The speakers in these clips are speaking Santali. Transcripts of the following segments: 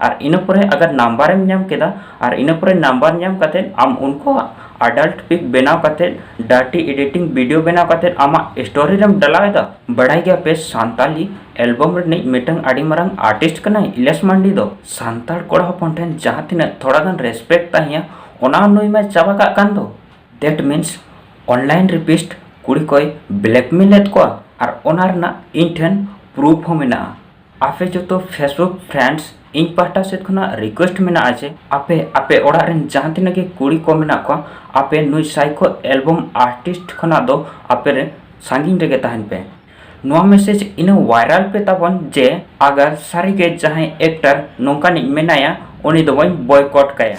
ᱟᱨ ᱤᱱᱟᱹ ᱯᱚᱨᱮ ᱟᱜᱟᱨ ᱱᱟᱢᱵᱟᱨ ᱮᱢ ᱧᱟᱢ ᱠᱮᱫᱟ ᱟᱨ ᱤᱱᱟᱹ ᱯᱚᱨᱮ ᱱᱟᱢᱵᱟᱨ ᱧᱟᱢ ᱠᱟᱛᱮ ᱟᱢ ᱩᱱᱠᱩᱣᱟᱜ ᱟᱰᱟᱞᱴ ᱯᱤᱠ ᱵᱮᱱᱟᱣ ᱠᱟᱛᱮ ᱰᱟᱨᱴᱤ ᱮᱰᱤᱴᱤᱝ ᱵᱷᱤᱰᱤᱭᱳ ᱵᱮᱱᱟᱣ ᱠᱟᱛᱮ ᱟᱢᱟᱜ ᱥᱴᱳᱨᱤ ᱨᱮᱢ ᱰᱟᱞᱟᱣ ᱮᱫᱟ ᱵᱟᱲᱟᱭ ᱜᱮᱭᱟ ᱯᱮ ᱥᱟᱱᱛᱟᱞᱤ ᱮᱞᱵᱟᱢ ᱨᱤᱱᱤᱡ ᱢᱤᱫᱴᱟᱝ ᱟᱹᱰᱤ ᱢᱟᱨᱟᱝ ᱟᱨᱴᱤᱥᱴ ᱠᱟᱱᱟᱭ ᱤᱞᱮᱥ ᱢᱟᱱᱰᱤ ᱫᱚ ᱥᱟᱱᱛᱟᱲ ᱠᱚᱲᱟ ᱦᱚᱯᱚᱱ ᱴᱷᱮᱱ ᱡᱟᱦᱟᱸ ᱛᱤᱱᱟᱹᱜ ᱛᱷᱚᱲᱟ ᱜᱟᱱ ᱨᱮᱥᱯᱮᱠᱴ ᱛᱟᱦᱮᱸᱭᱟ ᱚᱱᱟ ᱱᱩᱭ ᱢᱟ ᱪᱟᱵᱟ ᱠᱟᱜ ᱠᱟᱱ ᱫᱚ ᱫᱮᱴ ᱢᱤᱱᱥ ᱚᱱᱞᱟᱭᱤᱱ ᱨᱤᱯᱤᱥᱴ ᱠᱩᱲᱤ ᱠᱚᱭ ᱵᱞᱮᱠᱢᱮᱞ ᱮᱫ ᱠᱚᱣᱟ ᱟᱨ ᱚᱱᱟ ᱨᱮᱱᱟᱜ ᱤᱧ ᱴᱷᱮᱱ ᱯᱨᱩᱯᱷ ᱦᱚᱸ ᱢᱮᱱᱟᱜᱼᱟ ᱟᱯᱮ ᱡᱚᱛᱚ ᱯᱷᱮᱥᱵᱩᱠ ᱯᱷᱨᱮᱱᱰᱥ ᱤᱧ ᱯᱟᱦᱴᱟ ᱥᱮᱫ ᱠᱷᱚᱱᱟᱜ ᱨᱤᱠᱩᱭᱮᱥᱴ ᱢᱮᱱᱟᱜᱼᱟ ᱡᱮ ᱟᱯᱮ ᱟᱯᱮ ᱚᱲᱟᱜ ᱨᱮᱱ ᱡᱟᱦᱟᱸ ᱛᱤᱱᱟᱹᱜ ᱜᱮ ᱠᱩᱲᱤ ᱠᱚ ᱢᱮᱱᱟᱜ ᱠᱚᱣᱟ ᱟᱯᱮ ᱱᱩᱭ ᱥᱟᱭᱠᱳ ᱮᱞᱵᱚᱢ ᱟᱨᱴᱤᱥᱴ ᱠᱷᱚᱱᱟᱜ ᱫᱚ ᱟᱯᱮ ᱨᱮ ᱥᱟᱺᱜᱤᱧ ᱨᱮᱜᱮ ᱛᱟᱦᱮᱱ ᱯᱮ ᱱᱚᱣᱟ ᱢᱮᱥᱮᱡᱽ ᱤᱱᱟᱹ ᱵᱷᱟᱭᱨᱟᱞ ᱯᱮ ᱛᱟᱵᱚᱱ ᱡᱮ ᱟᱜᱟᱨ ᱥᱟᱹᱨᱤᱜᱮ ᱡᱟᱦᱟᱸᱭ ᱮᱠᱴᱟᱨ ᱱᱚᱝᱠᱟᱱᱤᱡ ᱢᱮᱱᱟᱭᱟ ᱩᱱᱤ ᱫᱚ ᱵᱚᱱ ᱵᱚᱭᱠᱚᱴ ᱠᱟᱭᱟ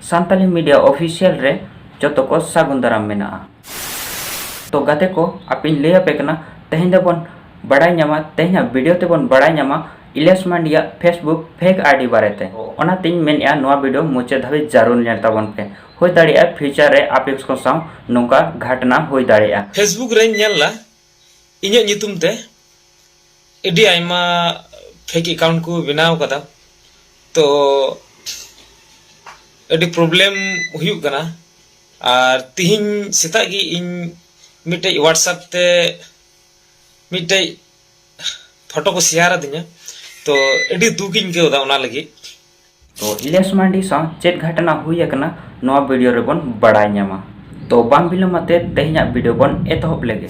ᱥᱟᱱᱛᱟᱞᱤ ᱢᱤᱰᱤᱭᱟ ᱚᱯᱷᱤᱥᱤᱭᱟᱞ ᱨᱮ ᱡᱚᱛᱚ ᱠᱚ ᱥᱟᱹᱜᱩᱱ ᱫᱟᱨᱟᱢ ᱢᱮᱱᱟᱜᱼᱟ ᱛᱚ ᱜᱟᱛᱮ ᱠᱚ ᱟᱯᱮᱧ ᱞᱟᱹᱭ ᱟᱯᱮ ᱠᱟᱱᱟ ᱛᱮᱦᱮᱧ ᱫᱚᱵᱚᱱ ᱵᱟᱲᱟᱭ ᱧᱟᱢᱟ ᱛᱮᱦᱮᱧᱟᱜ ᱵᱷᱤᱰᱤᱭᱳ ᱛᱮᱵᱚᱱ ᱵᱟᱲᱟᱭ ᱧᱟᱢᱟ ᱤᱞᱤᱭᱟᱥ ᱢᱟᱱᱰᱤᱭᱟᱜ ᱯᱷᱮᱥᱵᱩᱠ ᱯᱷᱮᱠ ᱟᱭᱰᱤ ᱵᱟᱨᱮᱛᱮ ᱚᱱᱟᱛᱮᱧ ᱢᱮᱱᱮᱫᱼᱟ ᱱᱚᱣᱟ ᱵᱷᱤᱰᱤᱭᱳ ᱢᱩᱪᱟᱹᱫ ᱫᱷᱟᱹᱵᱤᱡ ᱡᱟᱹᱨᱩᱲ ᱧᱮᱞ ᱛᱟᱵᱚᱱ ᱯᱮ ᱦᱩᱭ ᱫᱟᱲᱮᱭᱟᱜᱼᱟ ᱯᱷᱤᱭᱩᱪᱟᱨ ᱨᱮ ᱟᱯᱮᱠᱥ ᱠᱚ ᱥᱟᱶ ᱱᱚᱝᱠᱟ ᱜᱷᱟᱴᱱᱟ ᱦᱩᱭ ᱫᱟᱲᱮᱭᱟᱜᱼᱟ ᱯᱷᱮᱥᱵᱩᱠ ᱨᱮᱧ ᱧᱮᱞ ᱞᱟ ᱤᱧᱟᱹᱜ ᱧᱩᱛᱩᱢ ᱛᱮ ᱟᱹᱰᱤ ᱟᱭᱢᱟ ᱯᱷᱮᱠ ᱮᱠᱟᱣᱩᱱᱴ ᱠᱚ ᱵᱮᱱᱟᱣ ᱠᱟᱫᱟ ᱛᱚ ᱟᱹᱰᱤ ᱯᱨᱚᱵᱞᱮᱢ ᱦᱩᱭᱩᱜ ᱠᱟᱱᱟ ᱟᱨ ᱛᱤᱦᱤᱧ ᱥᱮᱛᱟᱜ ᱜᱮ ᱤᱧ ᱢᱤᱫᱴᱮᱡ ᱦᱳᱣᱟᱴᱥᱮᱯ ᱛᱮ ᱢᱤᱫᱴᱮᱡ ᱯᱷᱳᱴᱳ ᱠᱚ ᱥᱮᱭᱟᱨ ᱟᱹᱫᱤᱧᱟ ᱛᱚ ᱟᱹᱰᱤ ᱫᱩᱠ ᱤᱧ ᱟᱹᱭᱠᱟᱹᱣ ᱮᱫᱟ ᱚᱱᱟ ᱞᱟᱹᱜᱤᱫ ᱛᱚ ᱤᱞᱤᱭᱟᱥ ᱢᱟᱱᱰᱤ ᱥᱟᱶ ᱪᱮᱫ ᱜᱷᱟᱴᱱᱟ ᱦᱩᱭ ᱟᱠᱟᱱᱟ ᱱᱚᱣᱟ ᱵᱷᱤᱰᱤᱭᱳ ᱨᱮᱵᱚᱱ ᱵᱟᱲᱟᱭ ᱧᱟᱢᱟ ᱛᱚ ᱵᱟᱝ ᱵᱤᱞᱚᱢ ᱟᱛᱮ ᱛᱮᱦᱮᱧᱟᱜ ᱵᱷᱤᱰᱤᱭᱳ ᱵᱚᱱ ᱮᱛᱚᱦᱚᱵ ᱞᱮᱜᱮ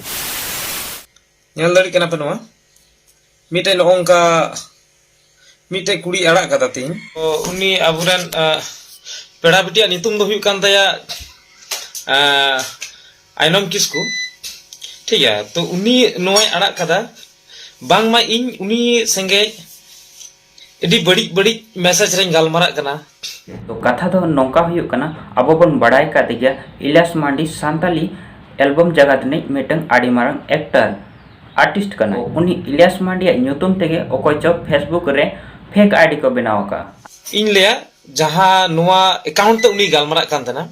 ᱧᱮᱞ ᱫᱟᱲᱮᱜ ᱠᱟᱱᱟ ᱯᱮ ᱱᱚᱣᱟ ᱢᱤᱫᱴᱮᱡ ᱱᱚᱜᱼᱚ ᱱᱚᱝᱠᱟ ᱢᱤᱫᱴᱮᱡ ᱠᱩᱲᱤ ᱟᱲᱟᱜ ᱠᱟᱫᱟ ᱛᱤᱧ ᱩᱱᱤ ᱟᱵᱚᱨᱮᱱ ᱯᱮᱲᱟ ᱵᱤᱴᱤᱭᱟᱜ ᱧᱩᱛᱩᱢ ᱫᱚ ᱦᱩᱭᱩᱜ ᱠᱟᱱ ᱛᱟᱭᱟ ᱟᱭᱱᱚᱢ ᱠᱤᱥᱠᱩ ᱴᱷᱤᱠ ᱜᱮᱭᱟ ᱛᱚ ᱩᱱᱤ ᱱᱚᱣᱟᱭ ᱟᱲᱟᱜ ᱠᱟᱫᱟ ᱵᱟᱝᱢᱟ ᱤᱧ ᱩᱱᱤ ᱥᱮᱸᱜᱮᱡ ᱟᱹᱰᱤ ᱵᱟᱹᱲᱤᱡ ᱵᱟᱹᱲᱤᱡ ᱢᱮᱥᱮᱡᱽ ᱨᱮᱧ ᱜᱟᱞᱢᱟᱨᱟᱜ ᱠᱟᱱᱟ ᱛᱚ ᱠᱟᱛᱷᱟ ᱫᱚ ᱱᱚᱝᱠᱟ ᱦᱩᱭᱩᱜ ᱠᱟᱱᱟ ᱟᱵᱚ ᱵᱚᱱ ᱵᱟᱲᱟᱭ ᱠᱟᱫ ᱜᱮᱭᱟ ᱤᱞᱟᱥ ᱢᱟᱱᱰᱤ ᱥᱟᱱᱛᱟᱞᱤ ᱮᱞᱵᱚᱢ ᱡᱟᱜᱟᱛ ᱨᱤᱱᱤᱡ ᱢᱤᱫᱴᱟᱝ ᱟᱹᱰᱤ ᱢᱟᱨᱟᱝ ᱮᱠᱴᱟᱨ ᱟᱨᱴᱤᱥᱴ ᱠᱟᱱᱟᱭ ᱩᱱᱤ ᱤᱞᱟᱥ ᱢᱟᱱᱰᱤᱭᱟᱜ ᱧᱩᱛᱩᱢ ᱛᱮᱜᱮ ᱚᱠᱚᱭ ᱪᱚ ᱯᱷᱮᱥᱵᱩᱠ ᱨᱮ ᱯᱷᱮᱠ ᱟᱭᱰᱤ ᱠᱚ ᱵᱮᱱᱟᱣ ᱟᱠᱟᱫᱼᱟ ᱤᱧ ᱞᱟᱹᱭᱟ ᱡᱟᱦᱟᱸ ᱱᱚᱣᱟ ᱮᱠᱟᱣᱩᱱᱴ ᱛᱮ ᱩᱱᱤ ᱜᱟᱞᱢᱟᱨᱟᱜ ᱠᱟᱱ ᱛᱟᱦᱮᱱᱟ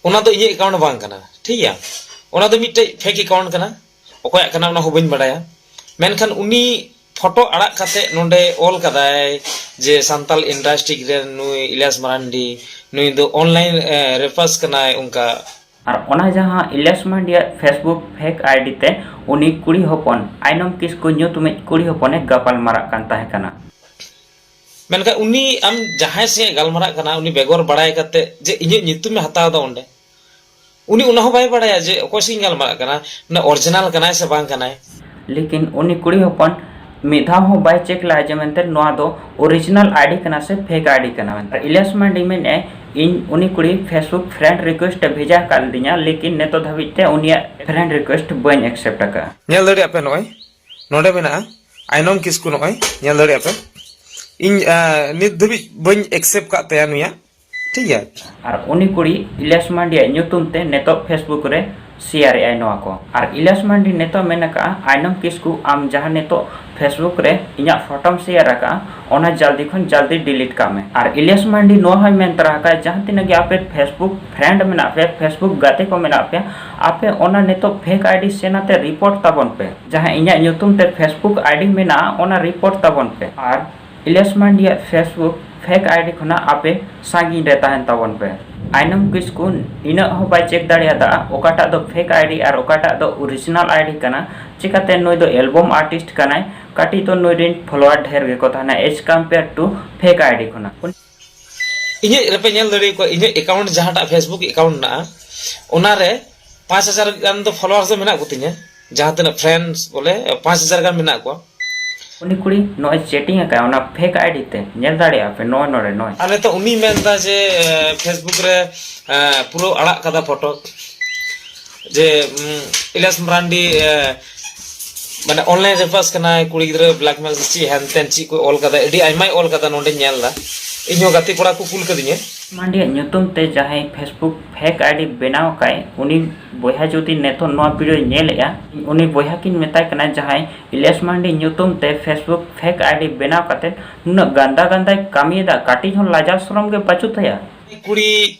ᱚᱱᱟ ᱫᱚ ᱤᱧᱟᱹᱜ ᱮᱠᱟᱣᱩᱱᱴ ᱵᱟᱝ ᱠᱟᱱᱟ ᱴᱷᱤᱠ ᱜᱮᱭᱟ ᱚᱱᱟ ᱫᱚ ᱢᱤᱫᱴᱮᱡ ᱯᱷᱮᱠ ᱮᱠᱟᱣᱩᱱᱴ ᱠᱟᱱᱟ ᱚᱠᱚᱭᱟᱜ ᱠᱟᱱᱟ ᱚᱱᱟ ᱦᱚᱸ ᱵᱟᱹᱧ ᱵᱟᱲᱟᱭᱟ ᱢᱮᱱᱠᱷᱟᱱ ᱩᱱᱤ ᱯᱷᱚᱴᱚ ᱟᱲᱟᱜ ᱠᱟᱛᱮ ᱱᱚᱰᱮ ᱚᱞ ᱠᱟᱫᱟᱭ ᱡᱮ ᱥᱟᱱᱛᱟᱞ ᱤᱱᱰᱟᱥᱴᱨᱤᱠ ᱨᱮ ᱱᱩᱭ ᱤᱞᱤᱭᱟᱥ ᱢᱟᱨᱟᱱᱰᱤ ᱱᱩᱭ ᱫᱚ ᱚᱱᱞᱟᱭᱤᱱ ᱨᱮᱯᱟᱥ ᱠᱟᱱᱟᱭ ᱚᱱᱠᱟ ᱟᱨ ᱚᱱᱟ ᱡᱟᱦᱟᱸ ᱤᱞᱤᱭᱟᱥ ᱢᱟᱨᱟᱱᱰᱤᱭᱟᱜ ᱯᱷᱮᱥᱵᱩᱠ ᱯᱷᱮᱠ ᱟᱭᱰᱤ ᱛᱮ ᱩᱱᱤ ᱠᱩᱲᱤ ᱦᱚᱯᱚᱱ ᱟᱭᱱᱚᱢ ᱠᱤᱥᱠᱩ ᱧᱩᱛᱩᱢᱤᱡ ᱠᱩᱲᱤ ᱦᱚᱯᱚᱱᱮ ᱜᱟᱯᱟᱞ ᱢᱟᱨᱟᱜ ᱠᱟᱱ ᱛᱟᱦᱮᱸ ᱠᱟᱱᱟ᱾ ᱢᱮᱱᱠᱷᱟᱱ ᱩᱱᱤ ᱟᱢ ᱡᱟᱦᱟᱸᱭ ᱥᱟᱶᱮ ᱜᱟᱞᱢᱟᱨᱟᱜ ᱠᱟᱱᱟ ᱩᱱᱤ ᱵᱮᱜᱚᱨ ᱵᱟᱲᱟᱭ ᱠᱟᱛᱮ ᱡᱮ ᱤᱧᱟᱹᱜ ᱧᱩᱛᱩᱢᱮ ᱦᱟᱛᱟᱣ ᱮᱫᱟ ᱚᱸᱰᱮ ᱩᱱᱤ ᱚᱱᱟ ᱦᱚᱸ ᱵᱟᱭ ᱵᱟᱲᱟᱭᱟ ᱡᱮ ᱚᱠᱚᱭ ᱥᱤᱧ ᱜᱟᱞᱢᱟᱨᱟᱜ ᱠᱟᱱᱟ ᱢᱟᱱᱮ ᱚᱨᱤᱡᱤᱱᱟᱞ ᱠᱟᱱᱟᱭ ᱥᱮ ᱵᱟᱝ ᱠᱟᱱᱟᱭ ᱞᱮᱠᱤᱱ ᱩᱱᱤ ᱠᱩᱲᱤ ᱦᱚᱯᱚᱱ ᱢᱤᱫ ᱫᱷᱟᱣ ᱦᱚᱸ ᱵᱟᱭ ᱪᱮᱠ ᱞᱟᱜᱼᱟ ᱡᱮ ᱢᱮᱱᱛᱮ ᱱᱚᱣᱟ ᱫᱚ ᱚᱨᱤᱡᱤᱱᱟᱞ ᱟᱭᱰᱤ ᱠᱟᱱᱟ ᱥᱮ ᱯᱷᱮᱠ ᱟᱭᱰᱤ ᱠᱟᱱᱟ ᱢᱮᱱᱛᱮ ᱤᱞᱤᱭᱟᱥ ᱢᱟᱱᱰᱤ ᱢᱮᱱᱮᱫᱼᱟᱭ ᱤᱧ ᱩᱱᱤ ᱠᱩᱲᱤ ᱯᱷᱮᱥᱵᱩᱠ ᱯᱷᱨᱮᱱᱰ ᱨᱤᱠᱩᱭᱮᱥᱴ ᱮ ᱵᱷᱮᱡᱟ ᱟᱠᱟᱫ ᱞᱤᱫᱤᱧᱟ ᱞᱮᱠᱤᱱ ᱱᱤᱛᱚᱜ ᱫᱷᱟᱹᱵᱤᱡ ᱛᱮ ᱩᱱᱤᱭᱟᱜ ᱯᱷᱨᱮᱱᱰ ᱨᱤᱠᱩᱭᱮᱥᱴ ᱵᱟᱹᱧ ᱮᱠᱥᱮᱯᱴ ᱟᱠᱟᱫᱼᱟ ᱧᱮᱞ ᱫᱟᱲᱮᱭᱟᱜ ᱯᱮ ᱱᱚᱜᱼᱚᱭ ᱱᱚᱰᱮ ᱢᱮᱱᱟᱜᱼᱟ ᱟᱭᱱᱚᱢ ᱠᱤᱥᱠᱩ ᱱᱚᱜᱼᱚᱭ ᱧᱮᱞ ᱫᱟᱲᱮᱭᱟᱜ ᱯᱮ ᱤᱧ ᱱᱤᱛ ᱫᱷᱟᱹᱵᱤᱡ ᱵᱟᱹᱧ ᱮᱠᱥᱮᱯᱴ ᱟᱠᱟᱫ ᱛᱟᱭᱟ ᱱᱩᱭᱟᱜ ᱴᱷᱤᱠ ᱜᱮᱭᱟ ᱟᱨ ᱩᱱᱤ ᱠᱩᱲᱤ ᱤᱞᱟᱥ ᱢᱟᱱᱰᱤ ᱟᱜ ᱧᱩᱛᱩᱢ ᱛᱮ ᱱᱤᱛᱚᱜ ᱯᱷᱮᱥᱵᱩᱠ ᱨᱮ ᱥᱮᱭᱟᱨ ᱮᱫᱟᱭ ᱱᱚᱣᱟ ᱠᱚ ᱟᱨ ᱤᱞᱟᱥ ᱢᱟᱱᱰᱤ ᱱᱤᱛᱚᱜ ᱢᱮᱱ ᱟᱠᱟᱜᱼᱟ ᱟᱭᱱᱚᱢ ᱠᱤᱥᱠᱩ ᱟᱢ ᱡᱟᱦᱟᱸ ᱱᱤᱛᱚᱜ ᱯᱷᱮᱥᱵᱩᱠ ᱨᱮ ᱤᱧᱟᱹᱜ ᱯᱷᱚᱴᱚᱢ ᱥᱮᱭᱟᱨ ᱟᱠᱟᱜᱼᱟ ᱚᱱᱟ ᱡᱟᱞᱫᱤ ᱠᱷᱚᱱ ᱡᱟᱞᱫᱤ ᱰᱤᱞᱤᱴ ᱠᱟᱜ ᱢᱮ ᱟᱨ ᱤᱞᱟᱥ ᱢᱟᱱᱰᱤ ᱱᱚᱣᱟ ᱦᱚᱸᱭ ᱢᱮᱱ ᱛᱚᱨᱟ ᱟᱠᱟᱜᱼᱟ ᱡᱟᱦᱟᱸ ᱛᱤᱱᱟᱹᱜ ᱜᱮ ᱟᱯᱮ ᱯᱷᱮᱥᱵᱩᱠ ᱯᱷᱨᱮᱱᱰ ᱢᱮᱱᱟᱜ ᱯᱮ ᱯᱷᱮᱥᱵᱩᱠ ᱜᱟᱛᱮ ᱠᱚ ᱢᱮᱱᱟᱜ ᱯᱮ ᱟᱯᱮ ᱚᱱᱟ ᱱᱤᱛᱚᱜ ᱯᱷᱮᱠ ᱟᱭᱰᱤ ᱥᱮᱱ ᱟᱛᱮ ᱨᱤᱯᱳᱨᱴ ᱛᱟᱵᱚᱱ ᱯᱮ ᱡᱟᱦᱟᱸ ᱤᱧᱟᱹᱜ ᱧᱩᱛᱩᱢ ᱛᱮ ᱯᱷᱮᱥᱵᱩᱠ ᱟᱭᱰᱤ ᱢᱮᱱᱟᱜᱼᱟ ᱚᱱᱟ ᱨᱤᱯᱳᱨᱴ ᱛᱟᱵᱚᱱ ᱯᱮ ᱟᱨ ᱤᱞᱭᱟᱥ ᱢᱟᱱᱰᱤᱭᱟᱜ ᱯᱷᱮᱥᱵᱩᱠ ᱯᱷᱮᱠ ᱟᱭᱰᱤ ᱠᱷᱚᱱᱟᱜ ᱟᱯᱮ ᱥᱟᱺᱜᱤᱧ ᱨᱮ ᱛᱟᱦᱮᱱ ᱛᱟᱵᱚᱱ ᱯᱮ᱾ ᱟᱭᱱᱚᱢ ᱠᱤᱥᱠᱩ ᱤᱱᱟᱹᱜ ᱦᱚᱸ ᱵᱟᱭ ᱪᱮᱠ ᱫᱟᱲᱮᱭᱟᱫᱼᱟ ᱚᱠᱟᱴᱟᱜ ᱫᱚ ᱯᱷᱮᱠ ᱟᱭᱰᱤ ᱟᱨ ᱚᱠᱟᱴᱟᱜ ᱫᱚ ᱚᱨᱤᱡᱤᱱᱟᱞ ᱟᱭᱰᱤ ᱠᱟᱱᱟ ᱪᱮᱠᱟᱛᱮ ᱱᱩᱭ ᱫᱚ ᱮᱞᱵᱚᱢ ᱟᱨᱴᱤᱥᱴ ᱠᱟᱱᱟᱭ ᱠᱟᱹᱴᱤᱡ ᱫᱚ ᱱᱩᱭ ᱨᱤᱱ ᱯᱷᱚᱞᱚᱣᱟᱨ ᱰᱷᱮᱨ ᱜᱮᱠᱚ ᱛᱟᱦᱮᱱᱟ as compare to fake ID ᱠᱷᱚᱱᱟᱜ᱾ ᱤᱧᱟᱹᱜ ᱨᱮᱯᱮ ᱧᱮᱞ ᱫᱟᱲᱮ ᱠᱚᱣᱟ ᱤᱧᱟᱹᱜ ᱮᱠᱟᱣᱩᱱᱴ ᱡᱟᱦᱟᱸᱴᱟᱜ ᱯᱷᱮᱥᱵᱩᱠ ᱮᱠᱟᱣᱩᱱᱴ ᱢᱮᱱᱟᱜᱼᱟ ᱚᱱᱟ ᱨᱮ ᱯᱟᱸᱪ ᱦᱟᱡᱟᱨ ᱜᱟᱱ ᱫᱚ ᱯᱷᱚᱞᱳᱣᱟᱨᱥ ᱫᱚ ᱢᱮᱱᱟᱜ ᱠᱚᱛᱤᱧᱟ ᱡᱟᱦᱟᱸ ᱛᱤᱱᱟᱹᱜ ᱯᱷᱨᱮᱱᱰᱥ ᱵᱚᱞᱮ ᱯᱟᱸᱪ ᱦᱟᱡᱟᱨ ᱜᱟᱱ ᱢᱮᱱᱟᱜ ᱠᱚᱣᱟ ᱩᱱᱤ ᱠᱩᱲᱤ ᱱᱚᱜᱼᱚᱭ ᱪᱮᱴᱤᱝ ᱟᱠᱟᱫ ᱚᱱᱟ ᱯᱷᱮᱠ ᱟᱭᱰᱤ ᱛᱮ ᱧᱮᱞ ᱫᱟᱲᱮᱭᱟᱜᱼᱟ ᱯᱮ ᱱᱚᱜᱼᱚᱭ ᱱᱚᱰᱮ ᱱᱚᱜᱼᱚᱭ ᱟᱨ ᱱᱤᱛᱚᱜ ᱩᱱᱤ ᱢᱮᱱᱫᱟ ᱡᱮ ᱯᱷᱮᱥᱵᱩᱠ ᱨᱮ ᱯᱩᱨᱟᱹ ᱟᱲᱟᱜ ᱠᱟᱫᱟ ᱯᱷᱚᱴᱳ ᱡᱮ ᱤᱞᱮᱥ ᱢᱟᱨᱟᱱᱰᱤ ᱢᱟᱱᱮ ᱚᱱᱞᱟᱭᱤᱱ ᱨᱮ ᱯᱟᱥ ᱠᱟᱱᱟ ᱠᱩᱲᱤ ᱜᱤᱫᱽᱨᱟᱹ ᱵᱞᱮᱠᱢᱮᱞ ᱥᱮ ᱪᱮᱫ ᱦᱮᱱ ᱛᱮᱱ ᱪᱮᱫ ᱠᱚ ᱚᱞ ᱠᱟᱫᱟ ᱟᱹᱰᱤ ᱟᱭᱢᱟᱭ ᱚᱞ ᱠᱟᱫᱟ ᱱᱚᱰᱮ ᱧᱮᱞ ᱫᱟ ᱤᱧ ᱦᱚᱸ ᱜᱟᱛᱮ ᱠᱚᱲᱟ ᱠᱚ ᱠᱩᱞ ᱠᱟᱫᱤᱧᱟ ᱢᱟᱱᱰᱤᱭᱟᱜ ᱧᱩᱛᱩᱢ ᱛᱮ ᱡᱟᱦᱟᱸᱭ ᱯᱷᱮᱥᱵᱩᱠ ᱯᱷᱮᱠ ᱟᱭᱰᱤ ᱵᱮᱱᱟᱣ ᱠᱟᱭ ᱩᱱᱤ ᱵᱚᱭᱦᱟ ᱡᱩᱫᱤ ᱱᱤᱛᱚᱜ ᱱᱚᱣᱟ ᱵᱷᱤᱰᱤᱭᱳ ᱧᱮᱞᱮᱜᱼᱟ ᱩᱱᱤ ᱵᱚᱭᱦᱟ ᱠᱤᱱ ᱢᱮᱛᱟᱭ ᱠᱟᱱᱟ ᱡᱟᱦᱟᱸᱭ ᱤᱞᱤᱭᱟᱥ ᱢᱟᱱᱰᱤ ᱧᱩᱛᱩᱢ ᱛᱮ ᱯᱷᱮᱥᱵᱩᱠ ᱯᱷᱮᱠ ᱟᱭᱰᱤ ᱵᱮᱱᱟᱣ ᱠᱟᱛᱮ ᱱᱩᱱᱟᱹᱜ ᱜᱟᱱᱫᱟ ᱜᱟᱱᱫᱟᱭ ᱠᱟᱹᱢᱤᱭᱮᱫᱟ ᱠᱟᱹᱴᱤᱡ ᱦᱚᱸ ᱞᱟᱡᱟᱣ ᱥᱚᱨᱚᱢ ᱜᱮ ᱵᱟᱹᱪᱩᱜ ᱛᱟᱭᱟ ᱠᱩᱲᱤ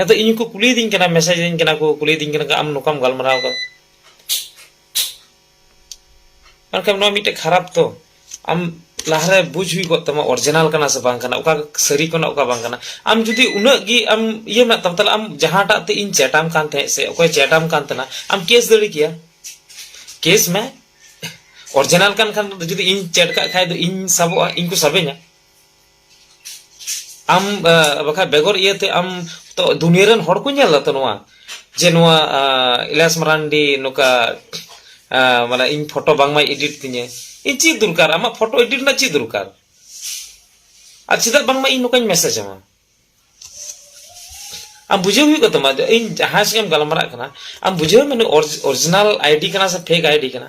ᱟᱫᱚ ᱤᱧ ᱠᱚ ᱠᱩᱞᱤᱭᱮᱫᱤᱧ ᱠᱟᱱᱟ ᱢᱮᱥᱮᱡᱽ ᱤᱧ ᱠᱟᱱᱟ ᱠᱚ ᱠᱩᱞᱤᱭᱮᱫᱤᱧ ᱠᱟᱱᱟ ᱟᱢ ᱱᱚᱝᱠᱟᱢ ᱜᱟᱞᱢᱟᱨᱟᱣ ᱠᱟᱫᱟ ᱢᱮᱱᱠᱷᱟᱱ ᱱᱚᱣᱟ ᱢᱤᱫᱴᱮᱡ ᱠᱷᱟᱨᱟᱯ ᱛᱚ ᱟᱢ ᱞᱟᱦᱟᱨᱮ ᱵᱩᱡᱽ ᱦᱩᱭ ᱠᱚᱜ ᱛᱟᱢᱟ ᱚᱨᱤᱡᱤᱱᱟᱞ ᱠᱟᱱᱟ ᱥᱮ ᱵᱟᱝ ᱠᱟᱱᱟ ᱚᱠᱟ ᱥᱟᱹᱨᱤ ᱠᱟᱱᱟ ᱚᱠᱟ ᱵᱟᱝ ᱠᱟᱱᱟ ᱟᱢ ᱡᱩᱫᱤ ᱩᱱᱟᱹᱜ ᱜᱮ ᱟᱢ ᱤᱭᱟᱹ ᱢᱮᱱᱟᱜ ᱛᱟᱢ ᱛᱟᱦᱞᱮ ᱟᱢ ᱡᱟᱦᱟᱸᱴᱟᱜ ᱛᱮ ᱤᱧ ᱪᱮᱴᱟᱢ ᱠᱟᱱ ᱛᱟᱦᱮᱸᱫ ᱥᱮ ᱚᱠᱚᱭ ᱪᱮᱴᱟᱢ ᱠᱟᱱ ᱛᱟᱦᱮᱱᱟ ᱟᱢ ᱠᱮᱥ ᱫᱟᱲᱮ ᱠᱮᱭᱟ ᱠᱮᱥ ᱢᱮ ᱚᱨᱤᱡᱤᱱᱟᱞ ᱠᱟᱱ ᱠᱷᱟᱱ ᱡᱩᱫᱤ ᱤᱧ ᱪᱮᱴ ᱠᱟᱜ ᱠᱷᱟᱡ ᱫᱚ ᱤᱧ ᱥᱟᱵᱚᱜᱼᱟ ᱤᱧ ᱠᱚ ᱥᱟᱵᱮᱧᱟ ᱟᱢ ᱵᱟᱠᱷᱟᱡ ᱵᱮᱜᱚᱨ ᱤᱭᱟᱹᱛᱮ ᱟᱢ ᱛᱚ ᱫᱩᱱᱤᱭᱟᱹ ᱨᱮᱱ ᱦᱚᱲ ᱠᱚ ᱧᱮᱞ ᱫᱟ ᱛᱚ ᱱᱚᱣᱟ ᱡᱮ ᱱᱚᱣᱟ ᱤᱞᱟᱥ ᱢᱟᱨᱟᱱᱰᱤ ᱱᱚᱠᱟ ᱢᱟᱱᱮ ᱤᱧ ᱯᱷᱚᱴᱚ ᱵᱟᱝ ᱢᱟᱭ ᱮᱰᱤᱴ ᱛᱤᱧᱟᱹ ᱤᱧ ᱪᱮᱫ ᱫᱚᱨᱠᱟর ᱟᱢᱟᱜ ᱯᱷᱚᱴᱚ ᱮᱰᱤᱴ ᱨᱮᱱᱟᱜ ᱪᱮᱫ ᱫᱚᱨᱠᱟর ᱟᱨ ᱪᱮᱫᱟᱜ ᱵᱟᱝ ᱢᱟ ᱤᱧ ᱱᱚᱠᱟᱧ ᱢᱮᱥᱮᱡ ᱟᱢᱟ ᱟᱢ ᱵᱩᱡᱷᱟᱹᱣ ᱦᱩᱭᱩᱜ ᱠᱟᱱ ᱛᱟᱢᱟ ᱤᱧ ᱡᱟᱦᱟᱸ ᱥᱮᱫ ᱮᱢ ᱜᱟᱞᱢᱟᱨᱟᱜ ᱠᱟᱱᱟ ᱟᱢ ᱵᱩᱡᱷᱟᱹᱣ ᱢᱮ ᱚᱨᱤᱡᱤᱱᱟᱞ ᱟᱭᱰᱤ ᱠᱟᱱᱟ ᱥᱮ ᱯᱷᱮᱠ ᱟᱭᱰᱤ ᱠᱟᱱᱟ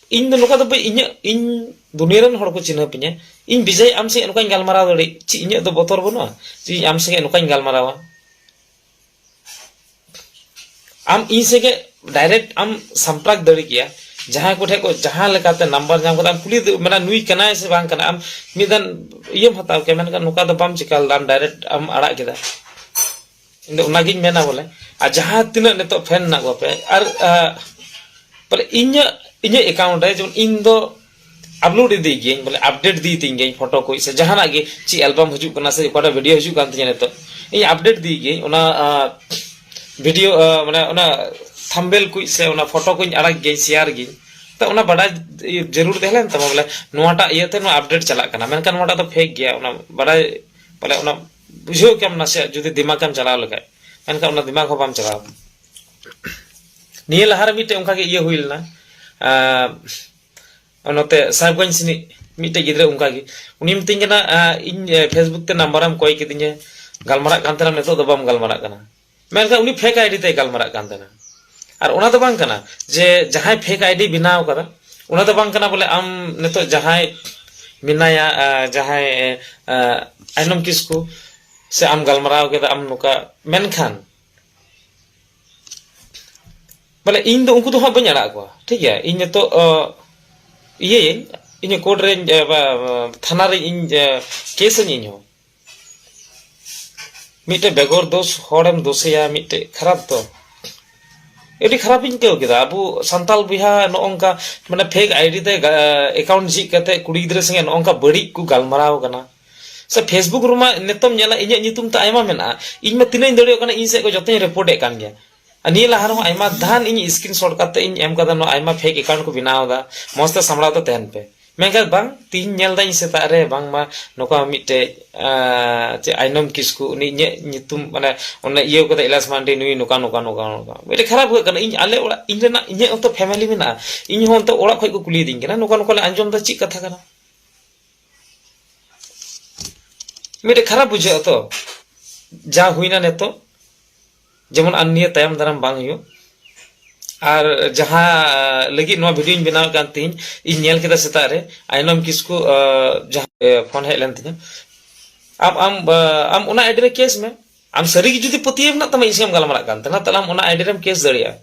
ᱤᱧ ᱫᱚ ᱱᱚᱝᱠᱟ ᱫᱚ ᱵᱟᱹᱧ ᱤᱧᱟᱹᱜ ᱤᱧ ᱫᱩᱱᱤᱭᱟᱹ ᱨᱮᱱ ᱦᱚᱲ ᱠᱚ ᱪᱤᱱᱦᱟᱹᱯ ᱤᱧᱟᱹ ᱤᱧ ᱵᱤᱡᱚᱭ ᱟᱢ ᱥᱮᱫ ᱱᱚᱝᱠᱟᱧ ᱜᱟᱞᱢᱟᱨᱟᱣ ᱫᱟᱲᱮᱜ ᱪᱮᱫ ᱤᱧᱟᱹᱜ ᱫᱚ ᱵᱚᱛᱚᱨ ᱵᱟᱹᱱᱩᱜᱼᱟ ᱡᱮ ᱤᱧ ᱟᱢ ᱥᱮᱫ ᱱᱚᱝᱠᱟᱧ ᱜᱟᱞᱢᱟᱨᱟᱣᱟ ᱟᱢ ᱤᱧ ᱥᱮᱫ ᱰᱟᱭᱨᱮᱠᱴ ᱟᱢ ᱥᱟᱢᱯᱨᱟᱠ ᱫᱟᱲᱮ ᱠᱮᱭᱟ ᱡᱟᱦᱟᱸᱭ ᱠᱚ ᱴᱷᱮᱱ ᱠᱚ ᱡᱟᱦᱟᱸ ᱞᱮᱠᱟᱛᱮ ᱱᱟᱢᱵᱟᱨ ᱧᱟᱢ ᱠᱟᱛᱮ ᱟᱢ ᱠᱩᱞᱤ ᱢᱟᱱᱮ ᱱᱩᱭ ᱠᱟᱱᱟᱭ ᱥᱮ ᱵᱟᱝ ᱠᱟᱱᱟ ᱟᱢ ᱢᱤᱫ ᱫᱷᱟᱣ ᱤᱭᱟᱹᱢ ᱦᱟᱛᱟᱣ ᱠᱮᱭᱟ ᱢᱮᱱᱠᱷᱟᱱ ᱱᱚᱝᱠᱟ ᱫᱚ ᱵᱟᱢ ᱪᱤᱠᱟᱹ ᱞᱮᱫᱟ ᱟᱢ ᱰᱟᱭᱨᱮᱠᱴ ᱟᱢ ᱟᱲᱟᱜ ᱠᱮᱫᱟ ᱤᱧ ᱫᱚ ᱚᱱᱟᱜᱤᱧ ᱢᱮᱱᱟ ᱵᱚᱞᱮ ᱟᱨ ᱡᱟᱦᱟᱸ ᱛᱤᱱᱟᱹᱜ ᱱᱤᱛᱚᱜ ᱯᱷᱮᱱ ᱢᱮᱱᱟᱜ ᱠᱚᱣᱟ ᱯᱮ ᱟᱨ ᱵᱚᱞᱮ ᱤᱧᱟᱹᱜ ᱤᱧᱟᱹᱜ ᱮᱠᱟᱣᱩᱱᱴ ᱨᱮ ᱡᱮᱢᱚᱱ ᱤᱧ ᱫᱚ ᱟᱯᱞᱳᱰ ᱤᱫᱤ ᱜᱤᱭᱟᱹᱧ ᱵᱚᱞᱮ ᱟᱯᱰᱮᱴ ᱤᱫᱤ ᱛᱤᱧ ᱜᱤᱭᱟᱹᱧ ᱯᱷᱳᱴᱳ ᱠᱚ ᱥᱮ ᱡᱟᱦᱟᱱᱟᱜ ᱜᱮ ᱪᱮᱫ ᱮᱞᱵᱟᱢ ᱦᱤᱡᱩᱜ ᱠᱟᱱᱟ ᱥᱮ ᱚᱠᱟᱴᱟᱜ ᱵᱷᱤᱰᱤᱭᱳ ᱦᱤᱡᱩᱜ ᱠᱟᱱ ᱛᱤᱧᱟ ᱱᱤᱛᱚᱜ ᱤᱧ ᱟᱯᱰᱮᱴ ᱤᱫᱤ ᱜᱤᱭᱟᱹᱧ ᱚᱱᱟ ᱵᱷᱤᱰᱤᱭᱳ ᱢᱟᱱᱮ ᱚᱱᱟ ᱛᱷᱟᱢᱵᱮᱞ ᱠᱚ ᱥᱮ ᱚᱱᱟ ᱯᱷᱳᱴᱳ ᱠᱚᱧ ᱟᱲᱟᱜ ᱜᱤᱭᱟᱹᱧ ᱥᱮᱭᱟᱨ ᱜᱤᱭᱟᱹᱧ ᱛᱚ ᱚᱱᱟ ᱵᱟᱰᱟᱭ ᱡᱟᱹᱨᱩᱲ ᱛᱟᱦᱮᱸ ᱞᱮᱱ ᱛᱟᱢᱟ ᱵᱚᱞᱮ ᱱᱚᱣᱟᱴᱟᱜ ᱤᱭᱟᱹᱛᱮ ᱱᱚᱣᱟ ᱟᱯᱰᱮᱴ ᱪᱟᱞᱟᱜ ᱠᱟᱱᱟ ᱢᱮᱱᱠᱷᱟᱱ ᱱᱚᱣᱟᱴᱟᱜ ᱫᱚ ᱯᱷᱮᱠ ᱜᱮᱭᱟ ᱚᱱᱟ ᱵᱟᱰᱟᱭ ᱵᱚᱞᱮ ᱚᱱᱟ ᱵᱩᱡᱷᱟᱹᱣ ᱠᱮᱢ ᱱᱟᱥᱮᱭᱟᱜ ᱡᱩᱫᱤ ᱫᱤᱢᱟᱜᱽ ᱮᱢ ᱪᱟᱞᱟᱣ ᱞᱮᱠᱷᱟᱡ ᱢᱮᱱᱠᱷᱟᱱ ᱚᱱᱟ ᱫᱤᱢᱟᱜᱽ ᱦᱚᱸ ᱵᱟᱢ ᱪᱟᱞᱟᱣ ᱱᱤᱭᱟᱹ ᱞᱟᱦᱟᱨᱮ ᱢᱤᱫᱴᱮᱡ ᱚᱱᱠᱟᱜᱮ ᱤᱭᱟᱹ ᱦᱩᱭ ᱞᱮᱱᱟ ᱱᱚᱛᱮ ᱥᱟᱦᱮᱵᱽᱜᱚᱸᱡᱽ ᱥᱮᱱᱤᱡ ᱢᱤᱫᱴᱮᱡ ᱜᱤᱫᱽᱨᱟᱹ ᱚᱱᱠᱟᱜᱮ ᱩᱱᱤ ᱢᱤᱛᱟᱹᱧ ᱠᱟᱱᱟ ᱤᱧ ᱯᱷᱮᱥᱵᱩᱠ ᱛᱮ ᱱᱟᱢᱵᱟᱨᱮᱢ ᱠᱚᱭ ᱠᱤᱫᱤᱧᱟ ᱜᱟᱞᱢᱟᱨᱟᱜ ᱠᱟᱱ ᱛᱟᱦᱮᱱᱟ ᱱᱤᱛᱚᱜ ᱫᱚ ᱵᱟᱢ ᱜᱟᱞᱢᱟᱨᱟᱜ ᱠᱟᱱᱟ ᱢᱮᱱᱠᱷᱟᱱ ᱩᱱᱤ ᱯᱷᱮᱠ ᱟᱭᱰᱤ ᱛᱮᱭ ᱜᱟᱞᱢᱟᱨᱟᱜ ᱠᱟᱱ ᱛᱟᱦᱮᱱᱟ ᱟᱨ ᱚᱱᱟ ᱫᱚ ᱵᱟᱝ ᱠᱟᱱᱟ ᱡᱮ ᱡᱟᱦᱟᱸᱭ ᱯᱷᱮᱠ ᱟᱭᱰᱤ ᱵᱮᱱᱟᱣ ᱠᱟᱫᱟ ᱚᱱᱟ ᱫᱚ ᱵᱟᱝ ᱠᱟᱱᱟ ᱵᱚᱞᱮ ᱟᱢ ᱱᱤᱛᱚᱜ ᱡᱟᱦᱟᱸᱭ ᱢᱮᱱᱟᱭᱟ ᱡᱟᱦᱟᱸᱭ ᱟᱭᱱᱚᱢ ᱠᱤᱥᱠᱩ ᱥᱮ ᱟᱢ ᱜᱟᱞᱢᱟᱨᱟᱣ ᱠᱮᱫᱟ ᱟᱢ ᱱᱚᱝᱠᱟ ᱢᱮᱱᱠᱷᱟᱱ ᱵᱚᱞᱮ ᱤᱧ ᱫᱚ ᱩᱱᱠᱩ ᱫᱚ ᱦᱟᱸᱜ ᱵᱟᱹᱧ ᱟᱲᱟᱜ ᱠᱚᱣᱟ ᱴᱷᱤᱠ ᱜᱮᱭᱟ ᱤᱧ ᱱᱤᱛᱚᱜ ᱤᱭᱟᱹᱭᱟᱹᱧ ᱤᱧ ᱠᱳᱨᱴ ᱨᱮ ᱛᱷᱟᱱᱟ ᱨᱮ ᱤᱧ ᱠᱮᱥᱟᱹᱧ ᱤᱧ ᱦᱚᱸ ᱢᱤᱫᱴᱮᱡ ᱵᱮᱜᱚᱨ ᱫᱳᱥ ᱦᱚᱲᱮᱢ ᱫᱳᱥᱮᱭᱟ ᱢᱤᱫᱴᱮᱡ ᱠᱷᱟᱨᱟᱯ ᱫᱚ ᱟᱹᱰᱤ ᱠᱷᱟᱨᱟᱯᱤᱧ ᱟᱹᱭᱠᱟᱹᱣ ᱠᱮᱫᱟ ᱟᱵᱚ ᱥᱟᱱᱛᱟᱲ ᱵᱚᱭᱦᱟ ᱱᱚᱜᱼᱚᱝᱠᱟ ᱢᱟᱱᱮ ᱯᱷᱮᱠ ᱟᱭᱰᱤ ᱛᱮ ᱮᱠᱟᱣᱩᱱᱴ ᱡᱷᱤᱡ ᱠᱟᱛᱮ ᱠᱩᱲᱤ ᱜᱤᱫᱽᱨᱟᱹ ᱥᱚᱸᱜᱮ ᱱᱚᱜᱼᱚᱝᱠᱟ ᱵᱟᱹᱲᱤᱡ ᱠᱚ ᱜᱟᱞᱢᱟᱨᱟᱣ ᱠᱟᱱᱟ ᱥᱮ ᱯᱷᱮᱥᱵᱩᱠ ᱨᱮᱢᱟ ᱱᱤᱛᱚᱜ ᱧᱮᱞᱟ ᱤᱧᱟᱹᱜ ᱧᱩᱛᱩᱢ ᱛᱮ ᱟᱭᱢᱟ ᱢᱮᱱᱟᱜᱼᱟ ᱤᱧ ᱢᱟ ᱛᱤᱱᱟᱹᱜ ᱤᱧ ᱫᱟᱲᱮᱭᱟᱜ ᱠᱟᱱᱟ ᱤᱧ ᱥᱮᱫ ᱠᱷᱚᱱ ᱡᱚᱛᱚᱧ ᱨᱤᱯᱳᱨᱴ ᱮᱫ ᱠᱟᱱ ᱜᱮᱭᱟ ᱱᱤᱭᱟᱹ ᱞᱟᱦᱟ ᱨᱮᱦᱚᱸ ᱟᱭᱢᱟ ᱫᱷᱟᱱ ᱤᱧ ᱥᱠᱨᱤᱱ ᱥᱚᱴ ᱠᱟᱛᱮ ᱤᱧ ᱮᱢ ᱠᱟᱫᱟ ᱱᱚᱣᱟ ᱟᱭᱢᱟ ᱯᱷᱮᱠ ᱮᱠᱟᱣᱩᱱᱴ ᱠᱚ ᱵᱮᱱᱟᱣ ᱮᱫᱟ ᱢᱚᱸᱡᱽ ᱛᱮ ᱥᱟᱢᱲᱟᱣ ᱛᱮ ᱛᱟᱦᱮᱱ ᱯᱮ ᱢᱮᱱᱠᱷᱟᱱ ᱵᱟᱝ ᱛᱤᱦᱤᱧ ᱧᱮᱞ ᱫᱟᱹᱧ ᱥᱮᱛᱟᱜ ᱨᱮ ᱵᱟᱝᱢᱟ ᱱᱚᱝᱠᱟ ᱢᱤᱫᱴᱮᱡ ᱪᱮᱫ ᱟᱭᱱᱚᱢ ᱠᱤᱥᱠᱩ ᱩᱱᱤ ᱤᱧᱟᱹᱜ ᱧᱩᱛᱩᱢ ᱢᱟᱱᱮ ᱚᱱᱮ ᱤᱭᱟᱹ ᱠᱟᱫᱟ ᱤᱞᱟᱥ ᱢᱟᱱᱰᱤ ᱱᱩᱭ ᱱᱚᱝᱠᱟ ᱱᱚᱝᱠᱟ ᱱᱚᱝᱠᱟ ᱱᱚᱝᱠᱟ ᱢᱤᱫᱴᱮᱡ ᱠᱷᱟᱨᱟᱯ ᱦᱩᱭᱩᱜ ᱠᱟᱱᱟ ᱤᱧ ᱟᱞᱮ ᱚᱲᱟᱜ ᱤᱧ ᱨᱮᱱᱟᱜ ᱤᱧᱟᱹᱜ ᱦᱚᱸᱛᱚ ᱯᱷᱮᱢᱮᱞᱤ ᱢᱮᱱᱟᱜᱼᱟ ᱤᱧ ᱦᱚᱸ ᱚᱱᱛᱮ ᱚᱲᱟᱜ ᱠᱷᱚᱡ ᱠᱚ ᱠᱩᱞᱤᱭᱮᱫᱤᱧ ᱠᱟᱱᱟ ᱱᱚᱝᱠᱟ ᱱᱚᱝᱠᱟ ᱞᱮ ᱟᱸᱡᱚᱢ ᱫᱟ ᱪᱮᱫ ᱠᱟᱛᱷᱟ ᱠᱟᱱᱟ ᱢᱤᱫᱴᱮᱡ ᱠᱷᱟᱨᱟᱯ ᱵᱩᱡᱷᱟᱹᱜᱼᱟ ᱛᱚ ᱡᱟ ᱦᱩᱭᱱᱟ ᱱᱤᱛᱚᱜ ᱡᱮᱢᱚᱱ ᱟᱨ ᱱᱤᱭᱟᱹ ᱛᱟᱭᱚᱢ ᱫᱟᱨᱟᱢ ᱵᱟᱝ ᱦᱩᱭᱩᱜ ᱟᱨ ᱡᱟᱦᱟᱸ ᱞᱟᱹᱜᱤᱫ ᱱᱚᱣᱟ ᱵᱷᱤᱰᱤᱭᱳᱧ ᱵᱮᱱᱟᱣ ᱠᱟᱱ ᱛᱤᱧ ᱤᱧ ᱧᱮᱞ ᱠᱮᱫᱟ ᱥᱮᱛᱟᱜ ᱨᱮ ᱟᱭᱱᱚᱢ ᱠᱤᱥᱠᱩ ᱡᱟᱦᱟᱸ ᱯᱷᱳᱱ ᱦᱮᱡ ᱞᱮᱱ ᱛᱤᱧᱟ ᱟᱢ ᱟᱢ ᱟᱢ ᱚᱱᱟ ᱟᱭᱰᱤ ᱨᱮ ᱠᱮᱥ ᱢᱮ ᱟᱢ ᱥᱟᱹᱨᱤ ᱜᱮ ᱡᱩᱫᱤ ᱯᱟᱹᱛᱭᱟᱹᱣ ᱢᱮᱱᱟᱜ ᱛᱟᱢᱟ ᱤᱧ ᱥᱟᱶ ᱜᱟᱞᱢᱟᱨᱟᱜ ᱠᱟᱱ ᱛᱟᱦᱮᱱᱟ ᱛᱟᱦᱞᱮ ᱟᱢ ᱚᱱᱟ ᱟᱭᱰᱤ ᱨᱮᱢ ᱠᱮᱥ ᱫᱟᱲᱮᱭᱟᱜᱼᱟ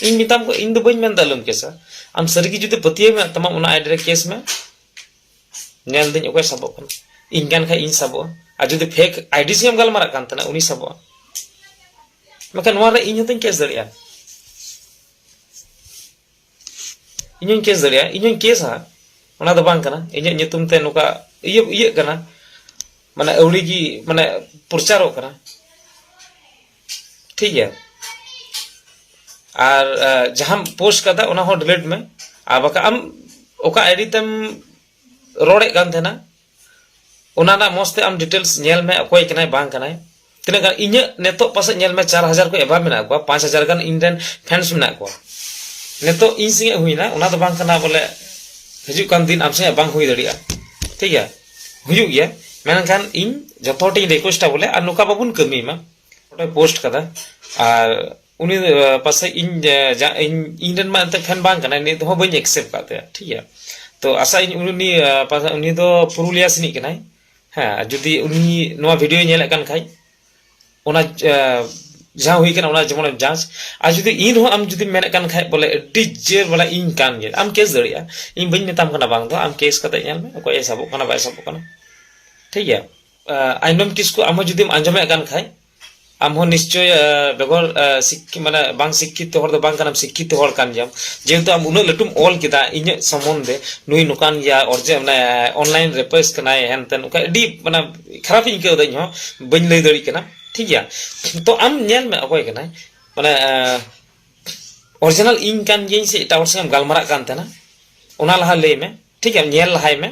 ᱤᱧ ᱢᱮᱛᱟᱢ ᱤᱧ ᱫᱚ ᱵᱟᱹᱧ ᱢᱮᱱᱫᱟ ᱟᱞᱚᱢ ᱠᱮᱥᱟ ᱟᱢ ᱥᱟᱹᱨᱤ ᱜᱮ ᱡᱩᱫᱤ ᱯᱟᱹᱛᱭᱟᱹᱣ ᱢᱮᱱᱟᱜ ᱛᱟᱢᱟ ᱚᱱᱟ ᱟᱭᱰᱤ ᱨᱮ ᱠᱮᱥ ᱢᱮ ᱧᱮᱞ ᱫᱟᱹᱧ ᱚᱠᱚᱭ ᱥᱟᱵᱚᱜ ᱠᱟᱱᱟ ᱤᱧ ᱠᱟᱱ ᱠᱷᱟᱡ ᱤᱧ ᱥᱟᱵᱚᱜᱼᱟ ᱟᱨ ᱡᱩᱫᱤ ᱯᱷᱮᱠ ᱟᱭᱰᱤ ᱥᱮᱢ ᱜᱟᱞᱢᱟᱨᱟᱜ ᱠᱟᱱ ᱛᱟᱦᱮᱱᱟ ᱩᱱᱤ ᱥᱟᱵᱚᱜᱼᱟ ᱢᱮᱱᱠᱷᱟᱱ ᱱᱚᱣᱟ ᱨᱮ ᱤᱧ ᱦᱚᱸᱛᱚᱧ ᱠᱮᱥ ᱫᱟᱲᱮᱭᱟᱜᱼᱟ ᱤᱧ ᱦᱚᱸᱧ ᱠᱮᱥ ᱫᱟᱲᱮᱭᱟᱜᱼᱟ ᱤᱧ ᱦᱚᱸᱧ ᱠᱮᱥᱟ ᱚᱱᱟ ᱫᱚ ᱵᱟᱝ ᱠᱟᱱᱟ ᱤᱧᱟᱹᱜ ᱧᱩᱛᱩᱢ ᱛᱮ ᱱᱚᱝᱠᱟ ᱤᱭᱟᱹ ᱤᱭᱟᱹᱜ ᱠᱟᱱᱟ ᱢᱟᱱᱮ ᱟᱹᱣᱲᱤ ᱜᱮ ᱢᱟᱱᱮ ᱯᱨᱚᱪᱟᱨᱚᱜ ᱠᱟᱱᱟ ᱴᱷᱤᱠ ᱜᱮᱭᱟ ᱟᱨ ᱡᱟᱦᱟᱸᱢ ᱯᱳᱥᱴ ᱠᱟᱫᱟ ᱚᱱᱟ ᱦᱚᱸ ᱰᱤᱞᱮᱴ ᱢᱮ ᱟᱨ ᱵᱟᱠᱷᱟᱱ ᱟᱢ ᱚᱠᱟ ᱟᱭᱰᱤ ᱛᱮᱢ ᱨᱚᱲᱮᱫ ᱠᱟᱱ ᱛᱟᱦᱮᱱᱟ ᱚᱱᱟ ᱨᱮᱱᱟᱜ ᱢᱚᱡᱽ ᱛᱮ ᱟᱢ ᱰᱤᱴᱮᱞᱥ ᱧᱮᱞ ᱢᱮ ᱚᱠᱚᱭ ᱠᱟᱱᱟᱭ ᱵᱟᱝ ᱠᱟᱱᱟᱭ ᱛᱤᱱᱟᱹᱜ ᱜᱟᱱ ᱤᱧᱟᱹᱜ ᱱᱤᱛᱚᱜ ᱯᱟᱥᱮᱡ ᱧᱮᱞ ᱢᱮ ᱪᱟᱨ ᱦᱟᱡᱟᱨ ᱠᱚ ᱮᱵᱷᱟᱵ ᱢᱮᱱᱟᱜ ᱠᱚᱣᱟ ᱯᱟᱸᱪ ᱦᱟᱡᱟᱨ ᱜᱟᱱ ᱤᱧ ᱨᱮᱱ ᱯᱷᱮᱱᱥ ᱢᱮᱱᱟᱜ ᱠᱚᱣᱟ ᱱᱤᱛᱚᱜ ᱤᱧ ᱥᱚᱸᱜᱮ ᱦᱩᱭᱱᱟ ᱚᱱᱟ ᱫᱚ ᱵᱟᱝ ᱠᱟᱱᱟ ᱵᱚᱞᱮ ᱦᱤᱡᱩᱜ ᱠᱟᱱ ᱫᱤᱱ ᱟᱢ ᱥᱚᱸᱜᱮ ᱵᱟᱝ ᱦᱩᱭ ᱫᱟᱲᱮᱭᱟᱜᱼᱟ ᱴᱷᱤᱠ ᱜᱮᱭᱟ ᱦᱩᱭᱩᱜ ᱜᱮᱭᱟ ᱢᱮᱱᱠᱷᱟᱱ ᱤᱧ ᱡᱚᱛᱚ ᱦᱚᱲ ᱴᱷᱮᱱ ᱨᱤᱠᱣᱮᱥᱴᱟ ᱵᱚᱞᱮ ᱟᱨ ᱱᱚᱝᱠᱟ ᱵᱟᱵᱚᱱ ᱠᱟᱹᱢᱤ ᱢᱟ ᱚᱸᱰᱮ ᱯᱳᱥᱴ ᱠᱟᱫᱟ ᱟᱨ ᱩᱱᱤ ᱯᱟᱥᱮᱡ ᱤᱧ ᱤᱧ ᱨᱮᱱ ᱢᱟ ᱮᱱᱛᱮ ᱯᱷᱮᱱ ᱵᱟᱝ ᱠᱟᱱᱟᱭ ᱱᱤᱛ ᱦᱚᱸ ᱵᱟᱹᱧ ᱮᱠᱥᱮᱯᱴ ᱠᱟᱜ ᱛᱟᱭᱟ ᱴᱷᱤᱠ ᱜᱮᱭᱟ ᱛᱚ ᱟᱥᱟ ᱤᱧ ᱩᱱᱤ ᱩᱱᱤ ᱫᱚ ᱯᱩᱨᱩᱞᱤᱭᱟ ᱥᱮᱱᱤᱡ ᱠᱟᱱᱟᱭ ᱦᱮᱸ ᱡᱩᱫᱤ ᱩᱱᱤ ᱱᱚᱣᱟ ᱵᱷᱤᱰᱤᱭᱳᱭ ᱧᱮᱞᱮᱫ ᱠᱟᱱ ᱠᱷᱟᱡ ᱚᱱᱟ ᱡᱟᱦᱟᱸ ᱦᱩᱭ ᱠᱟᱱᱟ ᱚᱱᱟ ᱡᱮᱢᱚᱱ ᱡᱟᱸᱪ ᱟᱨ ᱡᱩᱫᱤ ᱤᱧ ᱨᱮᱦᱚᱸ ᱟᱢ ᱡᱩᱫᱤᱢ ᱢᱮᱱᱮᱫ ᱠᱟᱱ ᱠᱷᱟᱡ ᱵᱚᱞᱮ ᱟᱹᱰᱤ ᱡᱮ ᱵᱚᱞᱮ ᱤᱧ ᱠᱟᱱ ᱜᱮᱭᱟ ᱟᱢ ᱠᱮᱥ ᱫᱟᱲᱮᱭᱟᱜᱼᱟ ᱤᱧ ᱵᱟᱹᱧ ᱢᱮᱛᱟᱢ ᱠᱟᱱᱟ ᱵᱟᱝ ᱫᱚ ᱟᱢ ᱠᱮᱥ ᱠᱟᱛᱮ ᱧᱮᱞ ᱢᱮ ᱚᱠᱚᱭ ᱮ ᱥᱟᱵᱚᱜ ᱠᱟᱱᱟ ᱵᱟᱭ ᱥᱟᱵᱚᱜ ᱠᱟᱱᱟ ᱴᱷᱤᱠ ᱜᱮᱭᱟ ᱟᱭᱱᱚᱢ ᱠᱤᱥᱠᱩ ᱟᱢ ᱦᱚᱸ ᱡᱩᱫᱤᱢ ᱟᱸᱡᱚᱢᱮᱫ ᱠᱟᱱ ᱠᱷᱟᱡ ᱟᱢ ᱦᱚᱸ ᱱᱤᱥᱪᱚᱭ ᱵᱮᱜᱚᱨ ᱢᱟᱱᱮ ᱵᱟᱝ ᱥᱤᱠᱠᱷᱤᱛ ᱦᱚᱲ ᱫᱚ ᱵᱟᱝ ᱠᱟᱱᱟᱢ ᱥᱤᱠᱠᱷᱤᱛ ᱦᱚᱲ ᱠᱟᱱ ᱜᱮᱭᱟᱢ ᱡᱮᱦᱮᱛᱩ ᱟᱢ ᱩᱱᱟᱹᱜ ᱞᱟᱹᱴᱩᱢ ᱚᱞ ᱠᱮᱫᱟ ᱤᱧᱟᱹᱜ ᱥᱚᱢᱚᱱᱫᱷᱮ ᱱᱩᱭ ᱱᱚᱝᱠᱟᱱ ᱜᱮᱭᱟ ᱚᱨᱡᱮ ᱢᱟᱱᱮ ᱚᱱᱞᱟᱭᱤᱱ ᱨᱮᱯᱮᱥ ᱠᱟᱱᱟᱭ ᱦᱮᱱᱛᱮᱱ ᱚᱱᱠᱟ ᱟᱹᱰᱤ ᱢᱟᱱᱮ ᱠᱷᱟᱨᱟᱯ ᱤᱧ ᱟᱹᱭᱠᱟᱹᱣ ᱮᱫᱟ ᱤᱧ ᱦᱚᱸ ᱵᱟᱹᱧ ᱞᱟᱹᱭ ᱫᱟᱲᱮᱭᱟᱜ ᱠᱟᱱᱟ ᱴᱷᱤᱠ ᱜᱮᱭᱟ ᱛᱚ ᱟᱢ ᱧᱮᱞ ᱢᱮ ᱚᱠᱚᱭ ᱠᱟᱱᱟᱭ ᱢᱟᱱᱮ ᱚᱨᱤᱡᱤᱱᱟᱞ ᱤᱧ ᱠᱟᱱ ᱜᱤᱭᱟᱹᱧ ᱥᱮ ᱮᱴᱟᱜ ᱦᱚᱲ ᱥᱟᱶ ᱜᱟᱞᱢᱟᱨᱟᱜ ᱠᱟᱱ ᱛᱟᱦᱮᱱᱟ ᱚᱱᱟ ᱞᱟᱦᱟ ᱞᱟᱹᱭ ᱢᱮ ᱴᱷᱤᱠ ᱜᱮᱭᱟ ᱧᱮᱞ ᱞᱟᱦᱟᱭ ᱢᱮ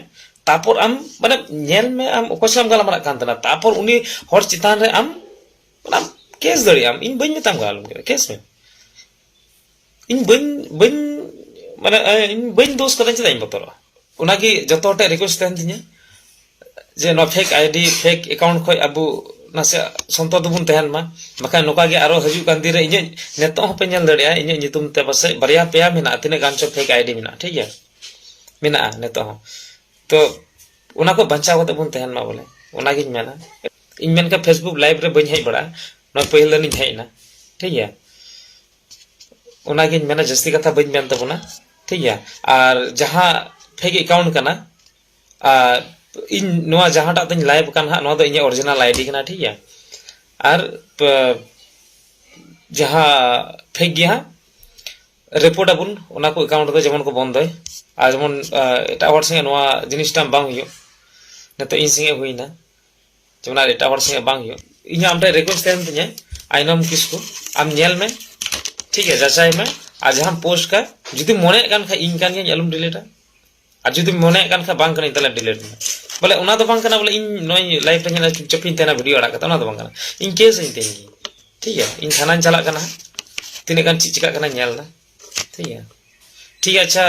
ᱛᱟᱨᱯᱚᱨ ᱟᱢ ᱢᱟᱱᱮ ᱧᱮᱞ ᱢᱮ ᱟᱢ ᱚᱠᱚᱭ ᱥᱟᱶ ᱜᱟᱞᱢᱟᱨᱟᱜ ᱠᱟᱱ ᱛᱟᱦᱮᱱᱟ ᱛᱟᱨᱯᱚᱨ ᱩᱱᱤ ᱦᱚᱲ ᱪᱮᱛᱟᱱ ᱨᱮ ᱟᱢ ᱚᱱᱟᱢ ᱠᱮᱥ ᱫᱟᱲᱮᱭᱟᱜᱼᱟᱢ ᱤᱧ ᱵᱟᱹᱧ ᱢᱮᱛᱟᱢ ᱠᱟᱱᱟ ᱟᱞᱚᱢ ᱠᱮᱥ ᱢᱮ ᱤᱧ ᱵᱟᱹᱧ ᱵᱟᱹᱧ ᱢᱟᱱᱮ ᱤᱧ ᱵᱟᱹᱧ ᱫᱳᱥ ᱠᱟᱫᱟ ᱪᱮᱫᱟᱜ ᱤᱧ ᱵᱚᱛᱚᱨᱚᱜᱼᱟ ᱚᱱᱟᱜᱮ ᱡᱚᱛᱚ ᱦᱚᱲ ᱴᱷᱮᱱ ᱨᱤᱠᱩᱭᱮᱥᱴ ᱛᱟᱦᱮᱱ ᱛᱤᱧᱟᱹ ᱡᱮ ᱱᱚᱣᱟ ᱯᱷᱮᱠ ᱟᱭᱰᱤ ᱯᱷᱮᱠ ᱮᱠᱟᱣᱩᱱᱴ ᱠᱷᱚᱱ ᱟᱵᱚ ᱱᱟᱥᱮ ᱥᱚᱱᱛᱚᱨ ᱫᱚᱵᱚᱱ ᱛᱟᱦᱮᱱ ᱢᱟ ᱵᱟᱠᱷᱟᱱ ᱱᱚᱝᱠᱟ ᱜᱮ ᱟᱨᱚ ᱦᱤᱡᱩᱜ ᱠᱟᱱ ᱫᱤᱱ ᱨᱮ ᱤᱧᱟᱹᱜ ᱱᱤᱛᱚᱜ ᱦᱚᱸᱯᱮ ᱧᱮᱞ ᱫᱟᱲᱮᱭᱟᱜᱼᱟ ᱤᱧᱟᱹᱜ ᱧᱩᱛᱩᱢ ᱛᱮ ᱯᱟᱥᱮᱡ ᱵᱟᱨᱭᱟ ᱯᱮᱭᱟ ᱢᱮᱱᱟᱜᱼᱟ ᱛᱤᱱᱟᱹᱜ ᱜᱟᱱ ᱪᱚ ᱯᱷᱮᱠ ᱟᱭᱰᱤ ᱢᱮᱱᱟᱜᱼᱟ ᱴᱷᱤᱠ ᱜᱮᱭᱟ ᱢᱮᱱᱟᱜᱼᱟ ᱱᱤᱛᱚᱜ ᱦᱚᱸ ᱛᱚ ᱚᱱᱟ ᱠᱚ ᱵᱟᱧᱪᱟᱣ ᱠᱟᱛᱮ ᱵᱚᱱ ᱛᱟᱦᱮᱱ ᱢᱟ ᱵᱚᱞᱮ ᱚᱱᱟᱜᱤᱧ ᱢᱮᱱᱟ ᱤᱧ ᱢᱮᱱᱠᱷᱟᱱ ᱯᱷᱮᱥᱵᱩᱠ ᱞᱟᱭᱤᱵᱷ ᱨᱮ ᱵᱟᱹᱧ ᱦᱮᱡ ᱵᱟᱲᱟᱜᱼᱟ ᱱᱚᱣᱟ ᱯᱟᱹᱦᱤᱞ ᱫᱤᱱᱤᱧ ᱦᱮᱡ ᱮᱱᱟ ᱴᱷᱤᱠ ᱜᱮᱭᱟ ᱚᱱᱟᱜᱤᱧ ᱢᱮᱱᱟ ᱡᱟᱹᱥᱛᱤ ᱠᱟᱛᱷᱟ ᱵᱟᱹᱧ ᱢᱮᱱ ᱛᱟᱵᱚᱱᱟ ᱴᱷᱤᱠ ᱜᱮᱭᱟ ᱟᱨ ᱡᱟᱦᱟᱸ ᱯᱷᱮᱠ ᱮᱠᱟᱣᱩᱱᱴ ᱠᱟᱱᱟ ᱟᱨ ᱤᱧ ᱱᱚᱣᱟ ᱡᱟᱦᱟᱸᱴᱟᱜ ᱫᱚᱧ ᱞᱟᱭᱤᱵᱷ ᱠᱟᱱ ᱦᱟᱸᱜ ᱱᱚᱣᱟ ᱫᱚ ᱤᱧᱟᱹᱜ ᱚᱨᱤᱡᱤᱱᱟᱞ ᱟᱭᱰᱤ ᱠᱟᱱᱟ ᱴᱷᱤᱠ ᱜᱮᱭᱟ ᱟᱨ ᱡᱟᱦᱟᱸ ᱯᱷᱮᱠ ᱜᱮᱭᱟ ᱦᱟᱸᱜ ᱨᱤᱯᱳᱨᱴ ᱟᱵᱚᱱ ᱚᱱᱟ ᱠᱚ ᱮᱠᱟᱣᱩᱱᱴ ᱫᱚ ᱡᱮᱢᱚᱱ ᱠᱚ ᱵᱚᱱᱫᱚᱭ ᱟᱨ ᱡᱮᱢᱚᱱ ᱮᱴᱟᱜ ᱦᱚᱲ ᱥᱚᱸᱜᱮ ᱱᱚᱣᱟ ᱡᱤᱱᱤᱥᱴᱟ ᱵᱟᱝ ᱦᱩᱭᱩᱜ ᱱᱤᱛᱚᱜ ᱤᱧ ᱥᱚᱸᱜᱮ ᱦᱩᱭᱱᱟ ᱡᱮᱢᱚᱱ ᱟᱨ ᱮᱴᱟᱜ ᱦᱚᱲ ᱥᱚᱸᱜᱮ ᱵᱟᱝ ᱦᱩᱭᱩᱜ ᱤᱧ ᱟᱢ ᱴᱷᱮᱱ ᱨᱤᱠᱣᱮᱥᱴ ᱛᱟᱦᱮᱱ ᱛᱤᱧᱟᱹ ᱟᱭᱱᱚᱢ ᱠᱤᱥᱠᱩ ᱟᱢ ᱧᱮᱞ ᱢᱮ ᱴᱷᱤᱠ ᱜᱮᱭᱟ ᱡᱟᱪᱟᱭ ᱢᱮ ᱟᱨ ᱡᱟᱦᱟᱸᱢ ᱯᱳᱥᱴ ᱠᱟ ᱡᱩᱫᱤ ᱢᱚᱱᱮᱭᱮᱫ ᱠᱟᱱ ᱠᱷᱟᱡ ᱤᱧ ᱠᱟᱱ ᱜᱤᱭᱟᱹᱧ ᱟᱞᱚᱢ ᱰᱤᱞᱤᱴᱟ ᱟᱨ ᱡᱩᱫᱤ ᱢᱚᱱᱮᱭᱮᱫ ᱠᱟᱱ ᱠᱷᱟᱡ ᱵᱟᱝ ᱠᱟᱹᱱᱟᱹᱧ ᱛᱟᱦᱞᱮ ᱰᱤᱞᱤᱴ ᱢᱮ ᱵᱚᱞᱮ ᱚᱱᱟ ᱫᱚ ᱵᱟᱝ ᱠᱟᱱᱟ ᱵᱚᱞᱮ ᱤᱧ ᱱᱚᱭ ᱞᱟᱭᱤᱵᱷ ᱨᱮ ᱧᱮᱞᱟ ᱪᱩᱯᱪᱟᱯ ᱤᱧ ᱛᱟᱦᱮᱱᱟ ᱵᱷᱤᱰᱤᱭᱳ ᱟᱲᱟᱜ ᱠᱟᱛᱮ ᱚᱱᱟ ᱫᱚ ᱵᱟᱝ ᱠᱟᱱᱟ ᱤᱧ ᱠᱮᱥ ᱤᱧ ᱛᱮᱦᱮᱧ ᱜᱮ ᱴᱷᱤᱠ ᱜᱮᱭᱟ ᱤᱧ ᱛᱷᱟᱱᱟᱧ ᱪᱟᱞᱟᱜ ᱠᱟᱱᱟ ᱛᱤᱱᱟᱹᱜ ᱜᱟᱱ ᱪᱮᱫ ᱪᱤᱠᱟᱹᱜ ᱠᱟᱱᱟ ᱧᱮᱞ ᱫᱟ ᱴᱷᱤᱠ ᱜᱮᱭᱟ ᱴᱷᱤᱠ ᱟᱪᱪᱷᱟ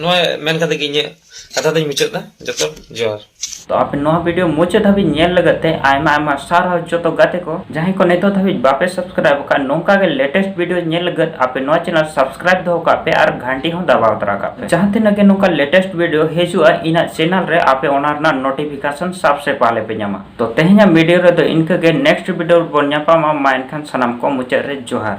ᱱᱚᱣᱟ ᱢᱮᱱ ᱠᱟᱛᱮ ᱜᱮ ᱤᱧᱟᱹᱜ ᱠᱟᱛᱷᱟ ᱫᱚᱧ ᱢᱩᱪᱟᱹᱫ ᱫᱟ ᱡᱚᱛᱚ ᱡᱚᱦᱟᱨ ᱛᱚ ᱟᱯᱮ ᱱᱚᱣᱟ ᱵᱷᱤᱰᱤᱭᱳ ᱢᱩᱪᱟᱹᱫ ᱫᱷᱟᱹᱵᱤᱡ ᱧᱮᱞ ᱞᱟᱹᱜᱤᱫ ᱛᱮ ᱟᱭᱢᱟ ᱟᱭᱢᱟ ᱥᱟᱨᱦᱟᱣ ᱡᱚᱛᱚ ᱜᱟᱛᱮ ᱠᱚ ᱡᱟᱦᱟᱸᱭ ᱠᱚ ᱱᱤᱛᱚᱜ ᱫᱷᱟᱹᱵᱤᱡ ᱵᱟᱯᱮ ᱥᱟᱵᱥᱠᱨᱟᱭᱤᱵ ᱟᱠᱟᱫ ᱱᱚᱝᱠᱟ ᱜᱮ ᱞᱮᱴᱮᱥᱴ ᱵᱷᱤᱰᱤᱭᱳ ᱧᱮᱞ ᱞᱟᱹᱜᱤᱫ ᱟᱯᱮ ᱱᱚᱣᱟ ᱪᱮᱱᱮᱞ ᱥᱟᱵᱥᱠᱨᱟᱭᱤᱵ ᱫᱚᱦᱚ ᱠᱟᱜ ᱯᱮ ᱟᱨ ᱜᱷᱟᱱᱴᱤ ᱦᱚᱸ ᱫᱟᱵᱟᱣ ᱛᱟᱨᱟ ᱠᱟᱜ ᱯᱮ ᱡᱟᱦᱟᱸ ᱛᱤᱱᱟᱹᱜ ᱜᱮ ᱱᱚᱝᱠᱟ ᱞᱮᱴᱮᱥᱴ ᱵᱷᱤᱰᱤᱭᱳ ᱦᱤᱡᱩᱜᱼᱟ ᱤᱧᱟᱹᱜ ᱪᱮᱱᱮᱞ ᱨᱮ ᱟᱯᱮ ᱚᱱᱟ ᱨᱮᱱᱟᱜ ᱱᱳᱴᱤᱯᱷᱤᱠᱮᱥᱚᱱ ᱥᱟᱵᱥᱮ ᱯᱟᱦᱞᱮ ᱯᱮ ᱧᱟᱢᱟ ᱛᱚ ᱛᱮᱦᱮᱧᱟᱜ ᱵᱷᱤᱰᱤᱭᱳ ᱨᱮᱫᱚ ᱤᱱᱠᱟᱹ ᱜᱮ ᱱᱮᱠᱥᱴ ᱵᱷᱤᱰᱤᱭᱳ ᱨᱮᱵᱚᱱ ᱧᱟᱯᱟᱢᱟ ᱢᱟ ᱮᱱᱠᱷᱟᱱ ᱥᱟᱱᱟᱢ ᱠᱚ ᱢᱩᱪᱟᱹᱫ ᱨᱮ ᱡᱚᱦᱟᱨ